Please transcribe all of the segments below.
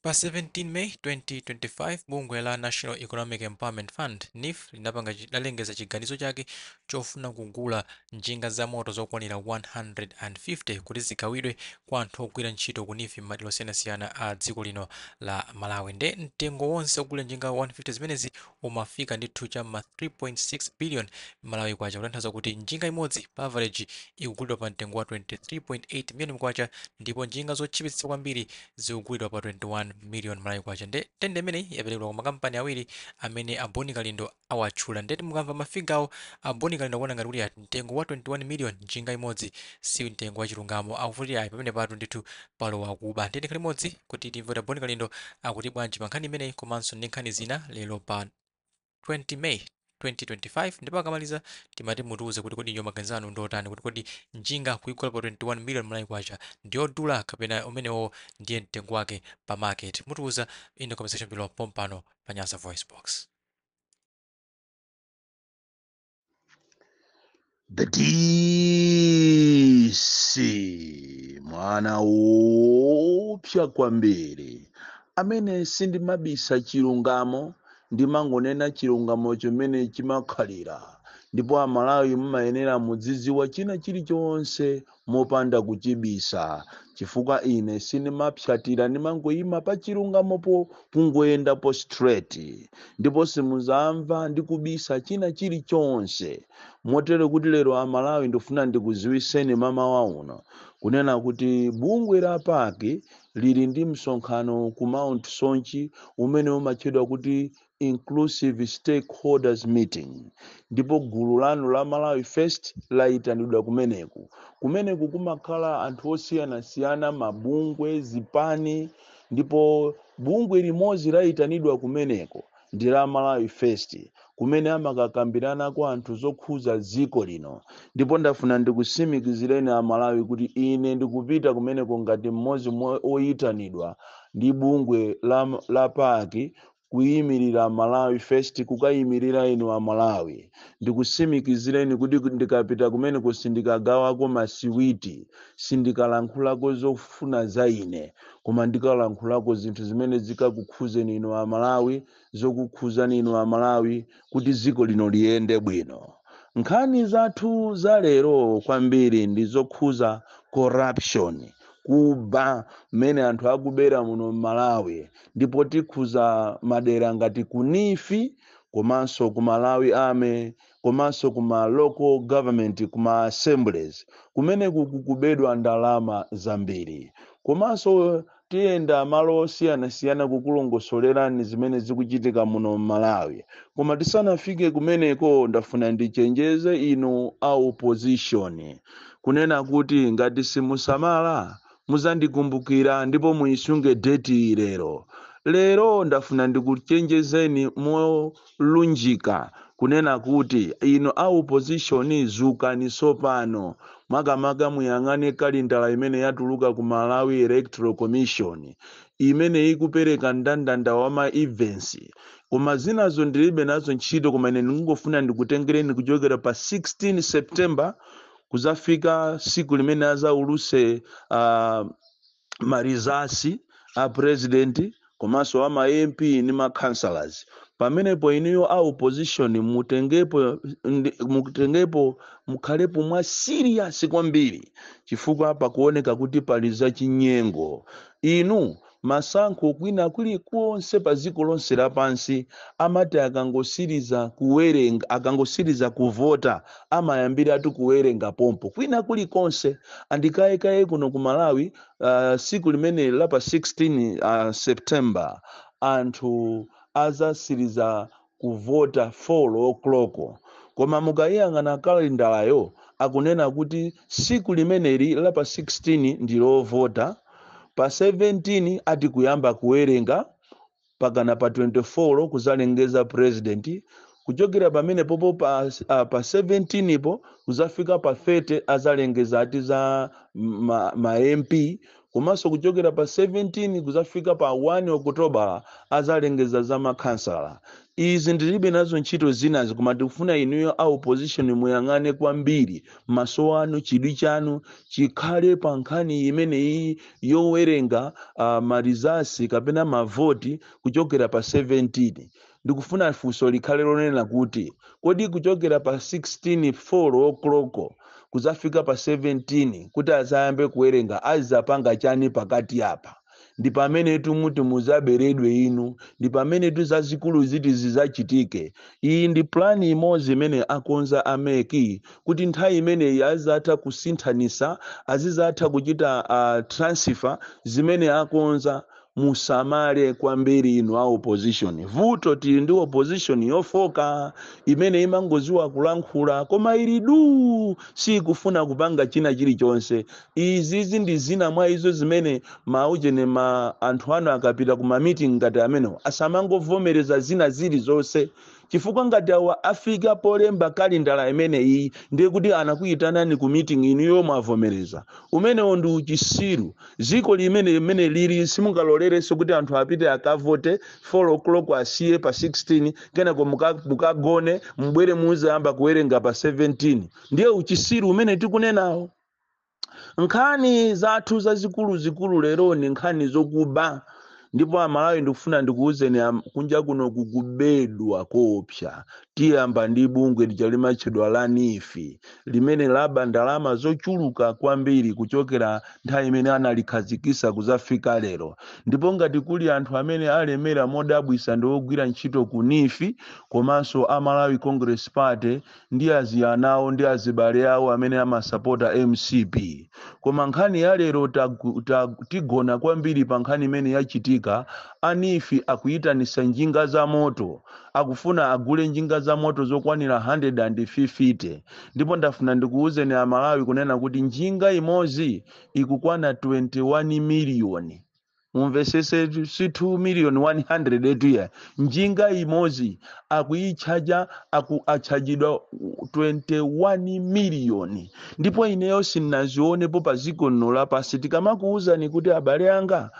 Pa 17 May 2025, bungwe la National Economic Empowerment Fund, NEEF, linapanga linalengeza chiganizo chake chofuna kugula njinga zamoto zokwanira 150 kuti zigawidwe kwa anthu ogwira ntchito ku NEEF m'madera osiyanasiyana a dziko lino la Malawi. Nde mtengo wonse ogulira njinga 150 zimenezi umafika ndithu cha m'ma 3.6 billion Malawi Kwacha, kutanthauza kuti njinga imodzi pa avareji ikugulidwa pa mtengo wa 23.8 million Kwacha ndipo njinga zotchipitsa kwambiri zikugulidwa pa 21 million malawi kwacha nde tende imeneyi yaperekedwa kwa makampani awiri amene a boni kalindo awatchula ndeti mukamva mafigawo a boni kalindo akuona ngati kuti mtengo wa 21 million njinga imodzi si mtengo wachilungamo akuti ayi pamenepatu ndithu palowa kuba nde tikhale limodzi kuti timve kuti a boni kalindo akuti bwanji pa nkhani imeneyi komanso ndi nkhani zina lero pa 20 May 2025 ndipo akamaliza timati mutiuze kuti kodi inuyo maganizo anu ndiotani kuti kodi njinga kuigula pa 21 million malawi kwacha ndiyodula kapena umenewo ndiye mtengo wake pa market mutiuza in the comment section below pompano pa nyasa voice box The DC mwana woopsa kwambiri amene sindimabisa chilungamo ndimangonena chilungamo chomwe chimakhalira ndipo amalawi mumayenera mudzidziwa china chilichonse mopanda kuchibisa chifukwa ine sindimapsatira ndimangoyima pa chilungamopo kungoyendapo straight ndipo simuzamva ndi kubisa china chilichonse motere kuti lero amalawi ndifuna ndikuziwiseni mamawa uno kunena kuti bungwe la paki lili ndi msonkhano ku mount soche umene umatchedwa kuti inclusive stakeholders meeting ndipo gulu lanu la malawi first layitanidwa kumeneku kumeneku kumakhala anthu osiyanasiyana mabungwe zipani ndipo bungwe limodzi layitanidwa kumeneko ndi la malawi first kumene amakakambiranako zinthu zokhuza dziko lino ndipo ndafuna ndikusimikizireni amalawi kuti ine ndikupita kumeneko ngati mmodzi mwa oyitanidwa ndi bungwe la, la paki kuyimirira malawi first kukayimirira inu a malawi ndikusimikizireni kuti ndikapita kumeneku sindikagawako masiwiti sindikalankhulako zofuna za ine koma ndikalankhulako zinthu zimene zikakukhuzeni inu a malawi zokukhuzani inu a malawi kuti dziko lino liyende bwino nkhani zathu za lero kwambiri ndi zokhuza corruption kuba mmene anthu akubera muno mmalawi ndipo tikhuza madera ngati ku NEEF komanso ku malawi army komanso ku ma local government ku ma assemblies kumeneku kukubedwa ndalama zambiri komanso tiyenda malo osiyanasiyana kukulongosolerani zimene zikuchitika muno m'malawi koma tisanafike kumeneko ndafuna ndichenjeze inu a opposition kunena kuti ngati simusamala Muzandikumbukira ndipo muisunge deti iyi lero. Lero ndafuna ndikuchenjezeni molunjika kunena kuti inu a opposition dzukani tsopano. Makamaka muyang'ane kalendala imene yatuluka ku Malawi Electoral Commission imene ikupereka ndandanda wa ma events. Koma zinazo ndilibe nazo ntchito koma ine ndikungofuna ndikutengereni kuchokera pa 16 September kuzafika siku limene azauluse uh, marizasi a president komanso a ma mp ni ma councillors pamenepo inuyo a opposition mutengepo ndi- mutengepo mukhalepo mwa serious kwambiri chifukwa pakuoneka kuti pali za chinyengo inu Masankho kwina kuli konse pa dziko lonse lapansi amati akangosiliza kuwerenga, akangosiliza kuvota amayambiratu kuwerenga pompo. Kwina kuli konse and kalekale kuno ku Malawi uh, siku limeneli la pa 16 uh, September anthu azasiliza kuvota 4 o'clock koma mukayiyang'ana kalendalayo akunena kuti siku limeneli la pa 16 ndilovota pa 17 ati kuyamba kuwerenga pakana pa 24 kuzalengeza president kuchokera pamene popo pa, ah, pa 17 po kuzafika pa 30 azalengeza ati za ma, ma mp komanso kuchokera pa 17 kuzafika pa 1 okotobala azalengeza za makhansala izi ndilibe nazo ntchito zinazi koma tikufuna inuyo a opposition muyang'ane kwambiri maso anu chidwi chanu chikhale pa nkhani imeneyi yowerenga uh, marizasi kapena mavoti kuchokera pa 17 Ndikufuna funso likhale lonena kuti, kodi kuchokera pa 16 folo okloko kuzafika pa 17 kuti azayambe kuwerenga azizapanga chani pakati apa? Ndipamenetu muti muzaberedwe inu, ndipamenetu zazikulu ziti zizachitike. Iyi ndi plan imodzi imene akonza a mec kuti nthawi imeneyi azizatha kusinthanisa, azizatha kuchita transfer zimene akonza musamale kwambiri inu a opposition vuto tili ndi opposition yofoka imene imangoziwa kulankhula koma ili duu sikufuna kupanga china chilichonse izizi ndi zina mwa izo zimene maujene ma anthu anu akapita ku mameeting ngati amenewo asamangovomereza zina zilizonse Chifukwa ngati awa afika polemba kalendala imene iyi ndiye kuti anakuyitanani ku meeting inuyo mwavomereza. Umenewo ndi uchisiru. Dziko limene limene lili simungalolerenso kuti anthu apite akavote 4 o'clock asiye pa 16 kenako muka, mukagone mubwere muzayamba kuwerenga pa 17. Ndiye uchisiru umene tikunenawo. nkhani zathu zazikuluzikulu lero ni nkhani zokuba ndipo amalawi ndikufuna ndikuwuzeni am- kunja kuno kukubedwa koopsa tiyamba ndi bungwe lija limatchedwa la neef limene laba ndalama zochuluka kwambiri kuchokera nthawi imene analikhazikisa kuzafika lero ndipo ngati kuli anthu amene alemera modabwisa ndi ogwira ntchito ku neef komanso a malawi congress party ndi aziyana awo ndi azibale awo amene amasapota mcp koma nkhani ya lero tagu- ta- tigona kwambiri pa nkhani imene yachitika a neef akuyitanisa njinga za moto akufuna agule njinga za moto zokwanira 150 ndipo ndafuna ndikuwuzeni amalawi kunena kuti njinga imodzi ikukwana 21 miliyoni mumvesese si 2 million 100 etu ya njinga imodzi akuitchaja aku atchajidwa 21 miliyoni ndipo ineyo sindinazionepo pa dziko lino lapansi tikamakuwuzani kuti abale anga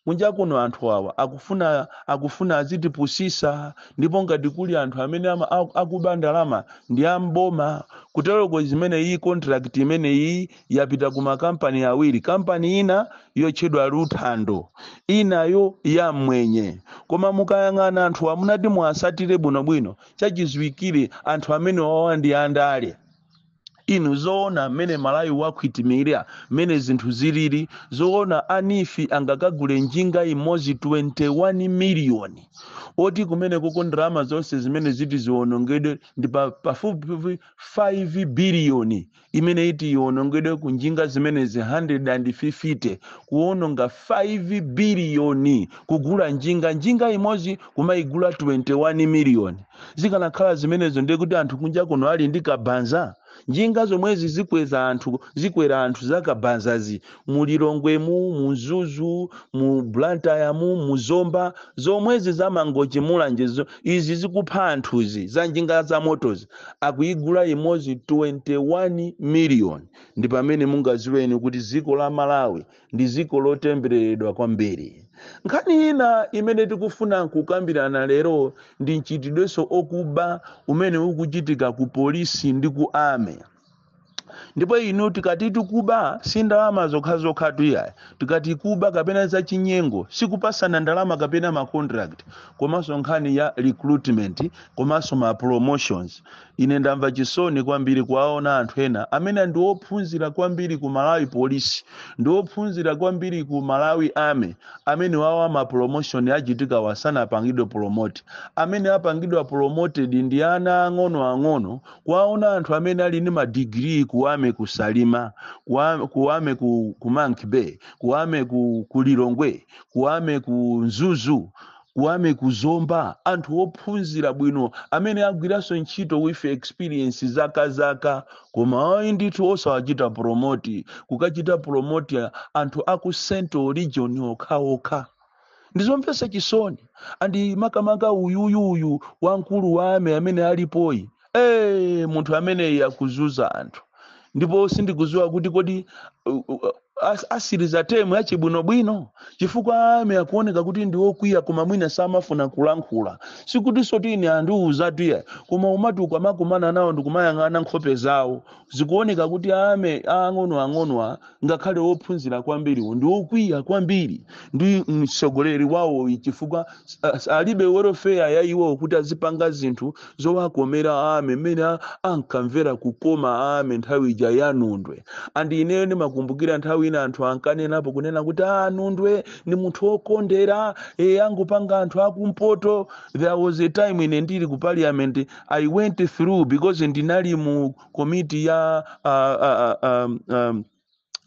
kunja kuno anthu awa akufuna akufuna azitipusisa ndipo ngati kuli anthu amene ama, aku- akuba ndalama ndi amboma kuteroko zimene iyi contract imene iyi yapita ku makampani awiri kampani ina yotchedwa luthando inayo ya mmwenye koma mukayang'ana anthu mutati muwasatire bwinobwino chachidziwikire anthu amenewawa ndi andale inu zoona mmene malawi wakhwitimira mmene zinthu zilili zoona a neef angakagule njinga imodzi 21 miliyoni oti kumenekuko ndalama zonse zimene ziti ziwonongedwe ndi pa- pafupifupi 5 biliyoni imene iti iwonongedwe ku njinga zimenezi 150 kuwononga 5 biliyoni kugula njinga njinga imodzi kumayigula 21 miliyoni zikanakhala zimenezo ndiye kuti anthu kunja kuno ali ndi kabanza njinga zomwezi zikweza anthu zikwera anthu zakabanzazi mu lilongwemu mu mzuzu mu blantyre'mu mu zomba zomwezi za mangochi mulanje zo- izi zikupha anthuzi za njinga za motozi akuyigula imodzi 21 miliyoni ndi pamene mungaziweni kuti dziko la malawi ndi dziko lotembereredwa kwambiri nkhani ina imene tikufuna kukambirana lero ndi mchitidwenso okuba umene ukuchitika ku polisi ndi ku ame ndipo inu tikati tikuba si ndalama zokhazokhatu ayi tikati kuba kapena zachinyengo sikupasana ndalama kapena ma contract komanso nkhani ya recruitment komanso ma promotions ine ndamva chisoni kwambiri kuwaona anthu ena amene ndi ophunzira kwambiri ku malawi police ndi ophunzira kwambiri ku malawi army amene awawa ma promotion achitikawa sanapangidwe promote amene apangidwa promoted ndi ana ang'ono ang'ono kuwaona anthu amene ali ndi madigiri ku ame ku salima kuwa- ku ame ku, ku monkey bay ku ame ku, ku lilongwe ku ame ku mzuzu ku ame ku zomba anthu ophunzira bwino amene agwiranso ntchito with experience zaka zaka koma ayi ndithu osawachita promote kukachita promote anthu aku central region okhaokha ndizomvetsa chisoni andi makamaka uyuyu uyu wamkulu wa ame amene alipoyu eh munthu ameneyi akuzuza anthu ndipo sindikuziwa kuti kodi uh, uh, as- asiriza temu yache bwinobwino chifukwa ame akuoneka kuti ndi okwiya koma mwina samafuna kulankhula sikutinsotu ine andiuzatu ayi koma umati ukamakumana nawo ndikumayang'ana nkhope zawo zikuoneka kuti ame aang'ono ang'onowa ngakhale wophunzira kwambiriwo ndi wokwiya kwambiri ndi mtsogoleri wawoyu chifukwa s- s- alibe welfare ya iwowo kuti azipanga zinthu zowakomera ame mmene a- ankamvera kukoma ame nthawi ija ya nundwe andi ineyo ndimakumbukira nthawi ina anthu ankanenapo kunena kuti a nundwe ndi munthu wokondera e angopanga anthu akumpoto there was a time ine ndili ku parliament i went through because ndinali mu komiti ya uh, uh, um, um,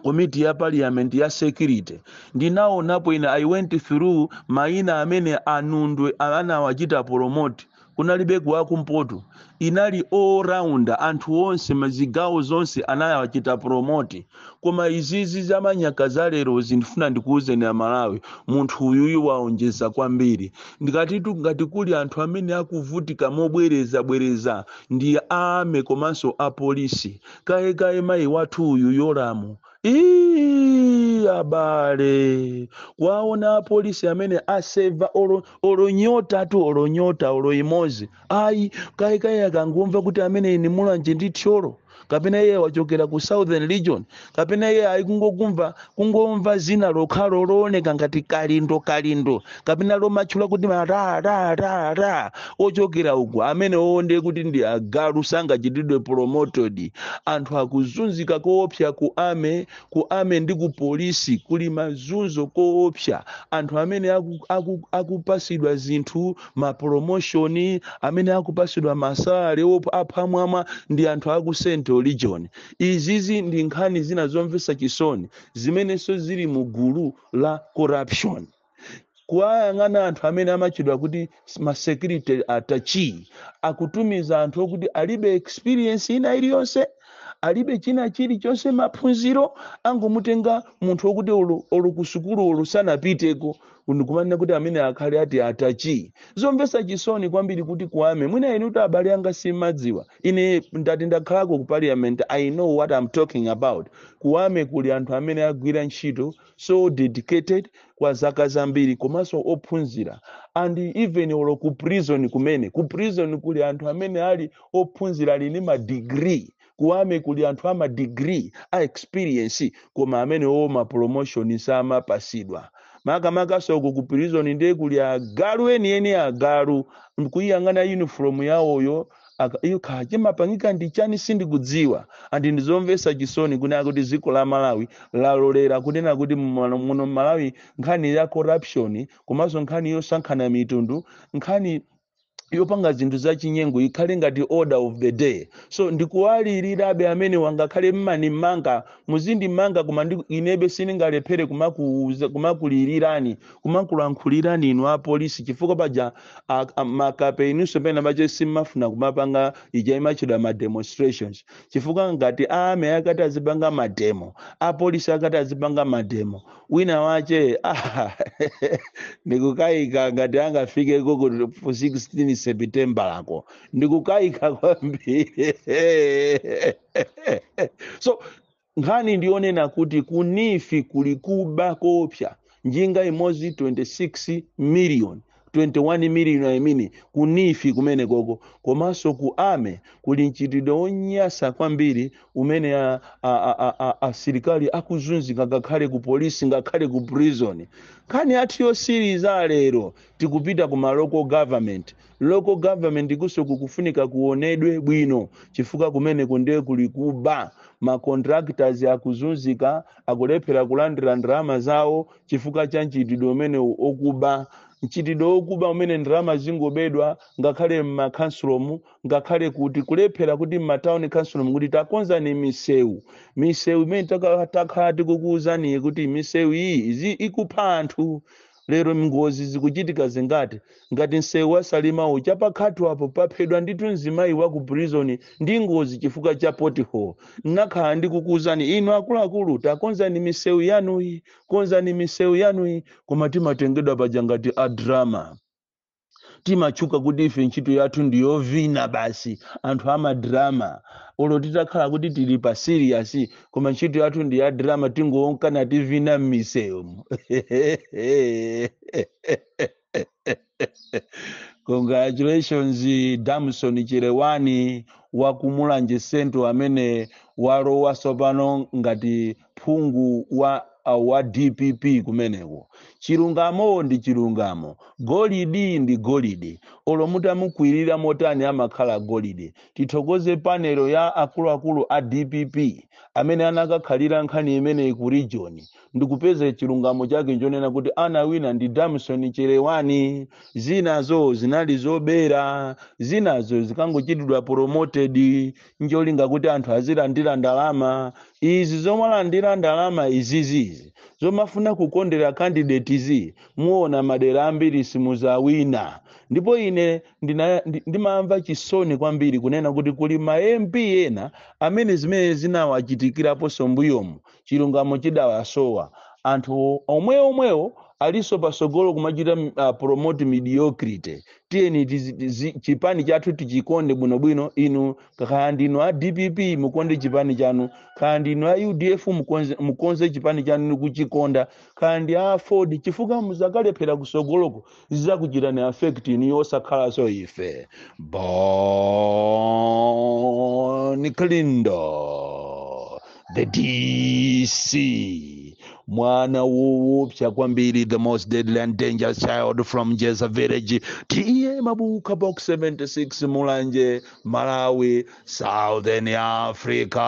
komiti ya parliament ya security ndinaonapo ine i went through maina amene a nundwe anawachita promote kunalibeko wakumpoto inali all round anthu onse m'zigawo zonse anawachita promote koma izizi za manyaka za lerozi ndifuna ndikuwuzeni amalawi munthu uyuyu waonjeza kwambiri ndikatitu ngati kuli anthu amene akuvutika mobwerezabwereza ndi aame komanso apolisi kayekaye mayi wathu uyu yolamu Ii, abale kwaona apolisi amene aseva olo, olo nyotatu olo nyota olo imozi ayi kayikayi akangomva kuti ameneyu ndi Mulanje ndi Thyolo kapena iye wachokera ku southern region kapena iye ayi kungokumva kungomva zina lokhalo looneka ngati kalindo kalindo kapena lomatchula kuti mararara ochokera uku amenewo nde kuti ndi agalu sangachitidwe promoted anthu akuzunzika koopsa ku army ku army ndi ku polisi kuli mazunzo koopsa anthu amene aku- aku- akupasidwa zinthu mapromotion amene akupasidwa masalary op- apamwamba ndi anthu aku central region izizi ndi nkhani zina zomvetsa chisoni zimenenso zili mu gulu la corruption kuwayang'ana anthu amene amatchedwa kuti masecurity attaché akutumiza anthu okuti alibe experience ina iliyonse alibe china chilichonse maphunziro akungomutenga munthu okuti olo olo ku sukulu olo sanapiteko ndikumanena kuti ameneyu akhale ati attaché zomvesa chisoni kwambiri kuti ku army mwina inu poti abale anga simmadziwa ine poti ndakhalako ku parliament i know what i'm talking about ku army kuli anthu amene agwira ntchito so dedicated kwa zaka zambiri komanso ophunzira and even olo ku prison kumene ku prison kuli anthu amene ali ophunzira ali ndi madegree ku army kuli anthu ama degree a experience koma amenewo ma promotion samapasidwa makamakanso uko ku prison ndiye kuli agalu enieni agalu kuyiyang'ana uniform yawoyo aka- iyo kaya chimapangika ndi chani sindikudziwa and ndizomvesa chisoni kunena kuti dziko la malawi lalolera kunena kuti mmano- muno mmalawi nkhani ya corruption komanso nkhani yosankhana mitundu nkhani yopanga zinthu za chinyengo ikhale ngati order of the day so ndikuwalirirabe amenewa ngakhale mmandimanga muzindimanga koma ndi- inebe sindingalephere kumakuuza- kumakulilirani kumakulankhulirani inu apolisi chifukwa paja a- a- makape inunso pena pache simmafuna kumapanga ija imatchedwa ma demonstrations chifukwa ngati a army akati azipanga mademo apolisi akati azipanga mademo wina wache ah, ndikukaika ngati angafike ku 16 september wako ndikukaika kwambiri so nkhani ndiyonena kuti ku NEEF kuli kuba koopsa njinga imodzi 26 million 21 million I mean ku NEEF kumenekoko komanso ku army kuli mchitidwe wonyasa kwambiri umene a- a- a- a- a- asilikali akuzunzika ngakhale ku polisi ngakhale ku prison nkhani yathu yotsiriza lero tikupita ku ma local government local government ukunso kukufunika kuonedwe bwino chifukwa kumeneko ndiye kuli kuba ma contractors akuzunzika akulephera kulandira ndalama zawo chifukwa cha mchitidwe umenewu okuba mchitidwe wokuba umene ndalama zikungobedwa ngakhale m'makhansulomu ngakhale kuti kulephera kuti m'matawuni khansulomu kuti takonzani misewu misewu imene taka- takhala tikukuwuzaniyi kuti misewu iyi izi- ikupha anthu lero ngozi zikuchitika zingati Ngati nseu wa Salima uja pa Khatho apo paphedwa ndithu mzimayi wa ku prison ndi ngozi chifukwa cha pothole. Nnakhala ndikukuuzani inu akuluakulu takonzani miseu yanuyi, konzani miseu yanuyi koma timatengedwa paja ngati a drama. Timatchuka kuti ife ntchito yathu ndi yovina basi, anthu a ma drama. Olo titakhala kuti tili pa serious koma ntchito yathu ndi ya drama tingowoneka tikuvina m'miseumu. Congratulations Damson Chelewani wa ku Mulanje Central amene walowa tsopano ngati phungu wa wa DPP kumeneko. Chilungamo ndi chilungamo, golidi ndi golidi. Olo mutamukwirira motani amakhala golidi. Tithokoze panelo ya akuluakulu a DPP amene anakakhalira nkhani imeneyi ku region ndikupeza chilungamo chake nchonena kuti anawina ndi damson chelewani zinazo zinali zobera zinazo zikangochitidwa promoted ncholinga kuti anthu azilandira ndalama izi zomalandira ndalama izizizi zomafuna kukondera candidate izi muona madera ambiri simuzawina ndipo ine ndina- ndi- ndimamva chisoni kwambiri kunena kuti kuli ma mp ena amene zimene zinawachitikiraponso mbuyomu chilungamo chidawasowa anthu omwe omwewo alinso pasogolo kumachita m- ah, promote mediocrity tiyeni tizi- tizi- chipani chathu tichikonde bwinobwino inu kaya ndinu a dpp mukonde chipani chanu kaya ndinu a udf mukonze, mukonze chipani chanu nikuchikonda kaya ndi aford chifukwa muzakalephera kusogoloko zizakuchitani affect inu osakhalanso ife bon kalindo the dc mwana woopsa kwambiri the most deadly and dangerous child from jeza village ta mabuka box 76 mulanje malawi southern africa